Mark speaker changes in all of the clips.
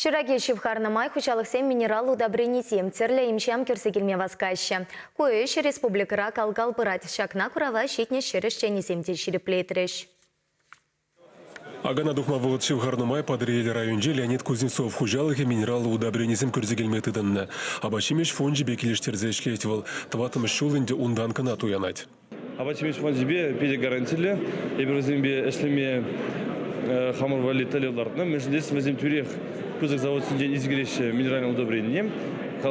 Speaker 1: Ҫураки ҫывхарнӑ май хуҫалӑхсем минерал удобренисем, тӗрлӗ им-ҫам кӳрсе килме васкаҫҫӗ. Ку ӗҫ республикӑра кал-кал пырать. Ҫакна курава ҫитнӗ ҫӗр ӗҫченӗсем те ҫирӗплетрӗҫ.
Speaker 2: Акана тухма вӑхӑт ҫывхарнӑ май Патӑрьел районӗнчи Леонид Кузнецов хуҫалӑхӗ минераллӑ удобренисем кӳрсе килме тытӑннӑ. Апат-ҫимӗҫ фончӗпе килӗштерсе ӗҫлет вӑл. Тӑваттӑмӗш ҫул ӗнтӗ унтан кӑна туянать. Апат ҫимӗҫ фончӗпе
Speaker 3: питӗ гарантиллӗ. Эпир вӗсемпе ӗҫлеме хамӑр валли тӗллев лартнӑ, мӗншӗн тесен вӗсем тӳрех пысӑк завод ҫинчен ise кӗреҫҫӗ минеральное удобрение.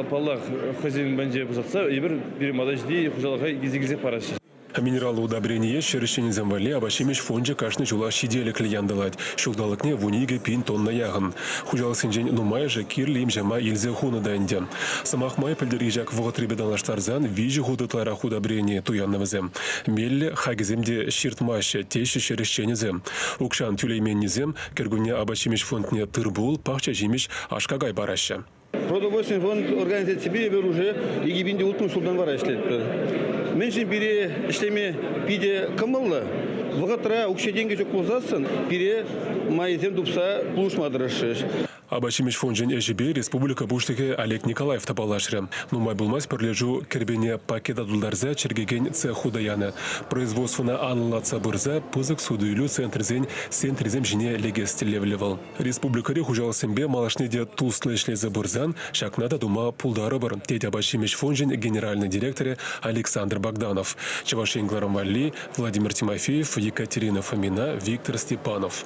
Speaker 3: Паллах, хӑйсен банче пушатса эпир пирӗн мата ҫити хуҫалӑха килсе килсех параҫҫӗ. Минераллӑ
Speaker 2: удобрение ҫӗр ӗҫченӗсем валли апат-ҫимӗҫ фончӗ кашни ҫулах ҫителӗклӗ янтӑлать, ҫулталӑкне вун икӗ пин тонна яхӑн. Хуҫалӑхсенчен нумайӑшӗ кирлӗ им-ҫама илсе хунӑ та ӗнтӗ. Сӑмах май пӗлтӗрхи ҫак вӑхӑтрипе танлаштарсан виҫӗ хут ытларах удобрени туяннӑ вӗсем. Меллӗ хакӗсем те ҫыртмаҫҫӗ, теҫҫӗ ҫӗр ӗҫченӗсем. Укҫан тӳлейменнисем кӗркунне апат-ҫимӗҫ фондне тыр-пул, пахча-ҫимӗҫ, аш-какай параҫҫӗ. Продовольственный фонд
Speaker 4: организаципе эпир уже икӗ пин те улттӑмӗш ҫултан вара ӗҫлетпӗр. Мӗншӗн пире ӗҫлеме питӗ кӑмӑллӑ? Вӑхӑтра укҫа-тенкӗ ҫук пулсассӑн пире майӗсем тупса пулӑшма тӑрӑшрӗҫ. Апат-ҫимӗҫ
Speaker 2: фончӗн ӗҫӗпе республика Пуҫлӑхӗ Олег Николаев та паллашрӗ. Нумай пулмасть пӗрлешӳ кӗрпене пакета тултарса чӗркекен цех хута янӑ. Производствӑна анлӑлатса пырса пысӑк суту-илӳ центрӗсен сентрисем ҫине лекес тӗллевлӗ вӑл. Республикӑри хуҫалӑхсемпе малашне те туслӑ ӗҫлесе пырсан ҫакна та тума пултарӑпӑр, тет апат-ҫимӗҫ фончӗн генеральнӑй директорӗ Александр Богданов, Чӑваш Ен Главнвалли Владимир Тимофеев, Екатерина Фомина, Виктор Степанов.